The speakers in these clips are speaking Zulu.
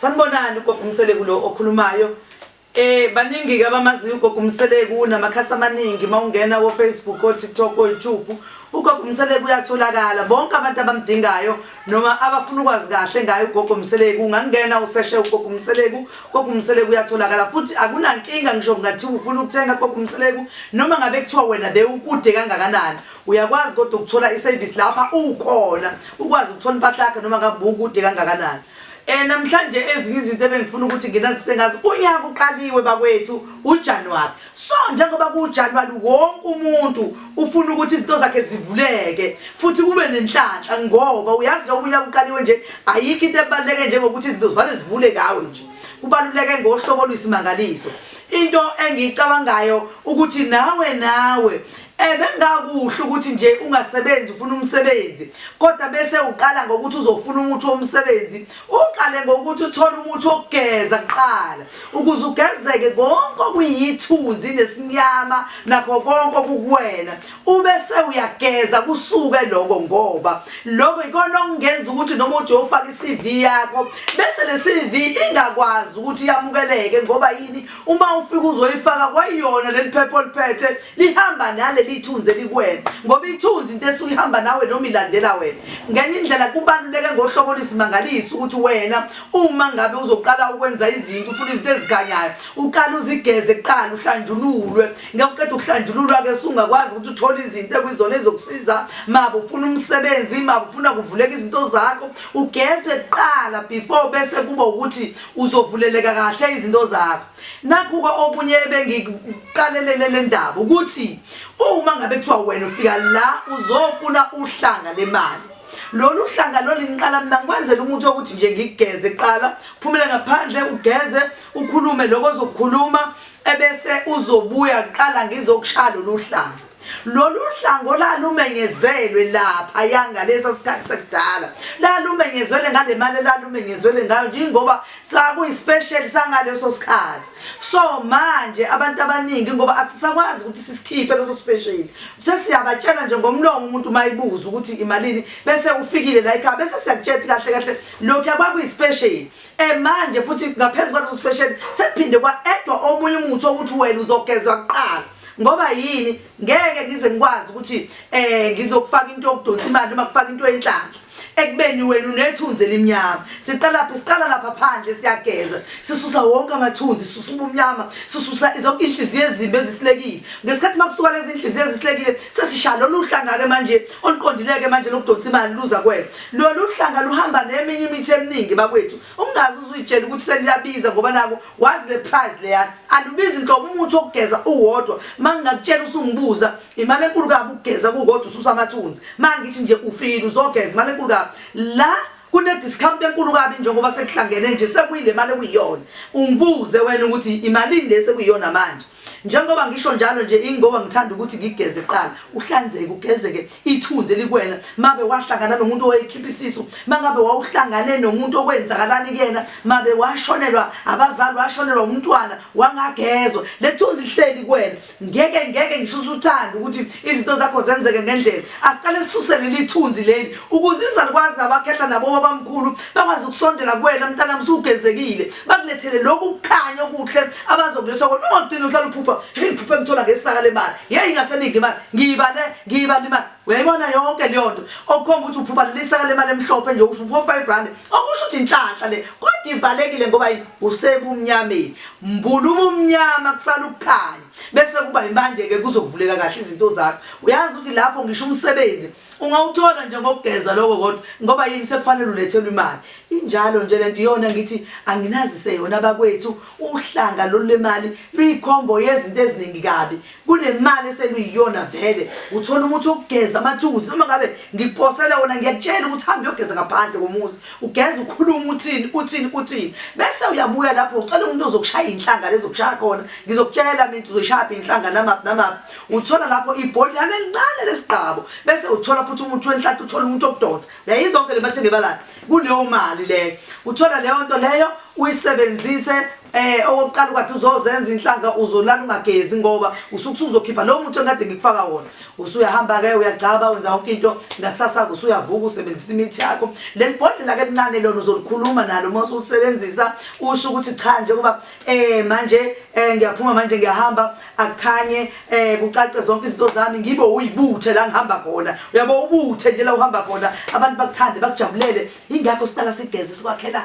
Sanibonani ugogo umseleku lo okhulumayo. Eh baningi ke abamaziyo ugogo umseleku unamakhasi amaningi mawungena wo Facebook o TikTok o YouTube. Ugogo umseleku uyatholakala bonke abantu abamdingayo noma abafuna ukwazi kahle ngayo ugogo umseleku ungangena useshe ugogo umseleku ugogo umseleku uyatholakala futhi akunankinga ngisho kungathi ufuna ukuthenga ugogo umseleku noma ngabe kuthiwa wena bewukude kangakanani uyakwazi kodwa ukuthola iservice lapha ukhona ukwazi ukuthola impahla yakhe noma ngabe ukude kangakanani Eh namhlanje ezinye izinto ebengifuna ukuthi nginazise ngazi unyaka uqaliwe bakwethu uJanuary. So njengoba kuJanuary wonke umuntu ufuna ukuthi izinto zakhe zivuleke futhi kube nenhlanhla ngoba uyazi nje unyaka uqaliwe nje ayikho into ebaleke njengokuthi izinto zivale zivule ngawe nje. Kubaluleke ngohlobo oluyisimangaliso. Into engiyicabangayo ukuthi nawe nawe Eh bengakuhle ukuthi nje ungasebenzi ufuna umsebenzi kodwa bese uqala ngokuthi uzofuna umuthi womsebenzi uqale ngokuthi uthole umuthi wokugeza kuqala ukuze ugezeke konke okuyithunzi nesinyama nakho konke okukuwena ubese uyageza kusuke lokho ngoba lokho ikona okungenza ukuthi noma uthi uyofaka iCV yakho bese leCV ingakwazi ukuthi yamukeleke ngoba yini uma ufika uzoyifaka kwayona leli phepha oliphethe lihamba naleli ithunzi elikwena ngoba ithunzi into esuke ihamba nawe noma ilandela wena ngenye indlela kubaluleke ngohlobo olusimangalisa ukuthi wena uma ngabe uzoqala ukwenza izinto ufuna izinto ezikhanyayo uqala uzigeze kuqala uhlanjululwe ngekuqeda ukuhlanjululwa-ke sungakwazi ukuthi uthole izinto ekuyizona ezokusiza maba ufuna umsebenzi maba ufuna kuvuleka izinto zakho ugezwe kuqala before bese kuba ukuthi uzovuleleka kahle izinto zakho nakhuka okunye ebengikuqalelele le ndaba ukuthi uma ngabe kuthiwa wena ufika la uzofuna uhlanga lemali lolu hlanga loliniqala mina ngikwenzela umuntu wokuthi nje ngigeze kuqala phumele ngaphandle ugeze ukhulume lokho ozokukhuluma ebese uzobuya kuqala ngizokushaya lolu hlanga lolu hlango lalumenyezelwe lapha yangalesa sikhathi sekudala lalumenyezelwe ngale mali lalumenyezelwe ngayo njengoba sakuyispecial sangaleso sikhathi so manje abantu abaningi ngoba asisakwazi ukuthi sisikhiphe leso special sesiyabatshela nje ngomlomo umuntu mayibuza ukuthi imalini bese ufikile la ekhaya bese siyakutshela kahle kahle lokhu yakwakuyispecial Eh manje futhi ngaphezu kwaleso special sekuphinde kwaedwa omunye umuthi ukuthi wena uzogezwa kuqala. Ngoba yini ngeke ngize ngikwazi ukuthi eh ngizokufaka into yokudonsa imali noma kufaka into enhlanhla. ekubeni wena unethunzi elimnyama siqala phi siqala lapha phandle siyageza sisusa wonke amathunzi sisusa ubumnyama sisusa zonke inhliziyo ezimbi ezisilekile ngesikhathi makusuka lezi inhliziyo ezisilekile sesishaya lolu hlangake manje oluqondileke manje lokudonsa imali luza kwena lolu hlanga luhamba neminye imithi eminingi bakwethu ungazi uzuyitshela ukuthi seliyabiza ngoba nako wazi le price leyana alubizi nhlobo umuthi wokugeza uwodwa uma ngingakutshela usungibuza imali enkulu kabi ukugeza kukodwa ususa amathunzi uma ngithi nje ufile uzogeza imali enkulu kabi la kune-discount enkulu kabi njengoba sekuhlangene nje sekuyile mali ekuyiyona ungibuze wena ukuthi imalini le sekuyiyona manje Njengoba ngisho njalo nje ingoba ngithanda ukuthi ngigeze kuqala uhlanzeke ugezeke ithunzi elikwena mabe wahlangana nomuntu owayekhipha isisu mangabe wawuhlangane nomuntu okwenzakalani kuyena mabe washonelwa abazali washonelwa umntwana wangagezwa lethunzi lihleli kuwena ngeke ngeke ngisho usuthanda ukuthi izinto zakho zenzeke ngendlela asiqale sisuse leli thunzi leli ukuze izalukwazi nabakhehla nabo babamkhulu bakwazi ukusondela kuwena mntanami usugezekile bakulethele lokhu kukhanya okuhle abazokuletha kona ungagcini uhlala uphupha hey phupha ngithola ngesaka lemali yeyi ngaseningi imali ngiyibale ngiyibale imali uyayibona yonke leyo nto okukhomba ukuthi uphupha lelisaka lemali emhlophe nje usho uphupha five rand okusho ukuthi inhlanhla le kodwa ivalekile ngoba yini usebumnyameni mbula ubumnyama kusala ukukhanya bese kuba impande-ke kuzovuleka kahle izinto zakho uyazi ukuthi lapho ngisho umsebenzi ungawuthola nje ngokugeza lokho kodwa ngoba yini sekufanele ulethelwe imali injalo nje lento iyona ngithi anginazise yona bakwethu uhlanga lolu lemali luyikhombo yezinto eziningi kabi kunemali eseluyiyona vele uthola umuthi okugeza amathukuzi noma ngabe ngiphosele wona ngiyakutshela ukuthi hambe uyogeza ngaphandle komuzi ugeza ukhuluma uthini uthini uthini bese uyabuya lapho ucela umuntu ozokushaya inhlanga lezokushaya khona ngizokutshela mina uzoshaya inhlanga namaphi namaphi uthola lapho ibhodlana elincane lesigqabo bese uthola futhi umuthi wenhlathi uthola umuntu okudonsa naye izonke le mathe ngebala kuleyo mali leyo uthola leyo nto leyo uyisebenzise eh okokuqala kwathi uzozenza inhlanga uzolala ungagezi ngoba usukusuzokhipha lo muthi engade ngikufaka wona usuyahamba ke uyagcaba wenza yonke into ngakusasa usuyavuka usebenzisa imithi yakho lelibhodlela ke lincane lona uzolikhuluma nalo uma usulisebenzisa usho ukuthi cha nje kuba eh manje eh ngiyaphuma manje ngiyahamba akukhanye eh kucace zonke izinto zami ngibe uyibuthe la ngihamba khona uyabo ubuthe nje la uhamba khona abantu bakuthande bakujabulele ingakho sihlala sigeze sikwakhela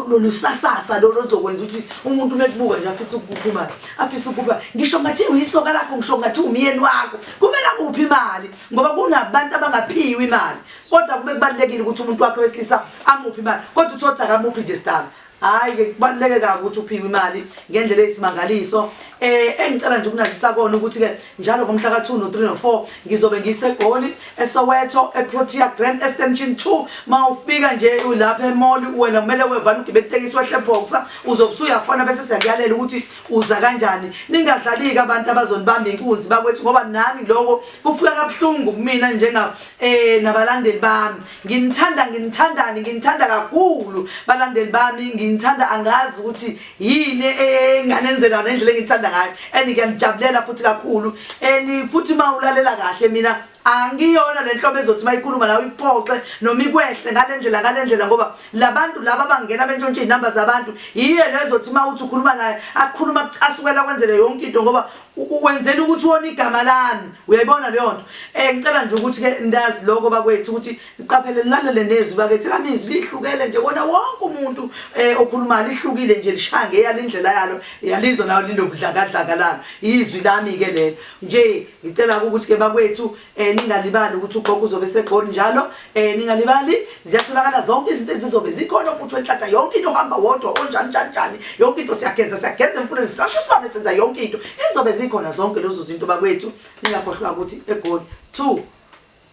lolusasasa lolo zokwenza ukuthi umuntu mekubuka nje afisa ukuphuma afisa ukuba ngisho ngathi uyisoka lakho ngisho ngathi umyeni wakho kumele kuphi imali ngoba kunabantu abangaphiwe imali kodwa kube kubalekile ukuthi umuntu wakhe wesilisa amuphi imali kodwa uthotha kamuphi nje stana Hayi ke kubaluleke kabi ukuthi uphiwe imali ngendlela eyisimangaliso. Eh engicela nje ukunazisa kona ukuthi ke njalo ngomhla ka 2 no 3 no 4 ngizobe ngisegoli eSoweto eProtea Grand Extension 2 mawufika nje ulapha emall wena kumele wevana ugibele itekisi wehle boxer uzobusuya fona bese siyakuyalela ukuthi uza kanjani. Ningadlaliki abantu abazonibamba inkunzi bakwethu ngoba nami lokho kufika kabuhlungu kumina njenga eh nabalandeli bami. nginithanda nginithandani nginithanda kakhulu balandeli bami nginithanda angazi ukuthi yini enganenzela nendlela engithanda ngayo and ngiyanijabulela futhi kakhulu and futhi uma ulalela kahle mina angiyona le nhlobo ezothi uma ikhuluma nawe iphoxe noma ikwehle ngale ndlela ngale ndlela ngoba labantu laba abangena bentshontshe izinamba zabantu yiyo lezothi uma uthi ukhuluma naye akhuluma kucasukela kwenzele yonke into ngoba wenzela ukuthi wona igama lami uyayibona leyo nto um ngicela nje ukuthi-ke ndazi loko bakwethu ukuthi niqaphele nilalele nezwi bakethi lami izwi lihlukele nje wona wonke umuntu um okhulumayo lihlukile nje lishaya ngeyalo indlela yalo yalizwa nayo linobudlakadlaka lalo izwi lami-ke lelo nje ngicela-ke ukuthi-ke bakwethu eh ningalibali ukuthi ugogo uzobe segoli njalo eh ningalibali ziyatholakala zonke izinto ezizobe zikhona umuntu wenhlata yonke into ohamba wodwa onjani njani njani yonke into siyageza siyageza emfuleni sirasha isibambe senza yonke into izobe zikhona zonke lezo zinto bakwethu ningakhohlwa ukuthi egoli 2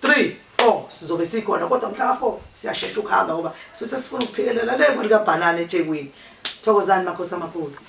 3 4 sizobe sikhona kodwa mhla ka 4 siyashesha ukuhamba ngoba sise sifuna ukuphikelela le mali kabhanana eThekwini thokozani makhosi amakhulu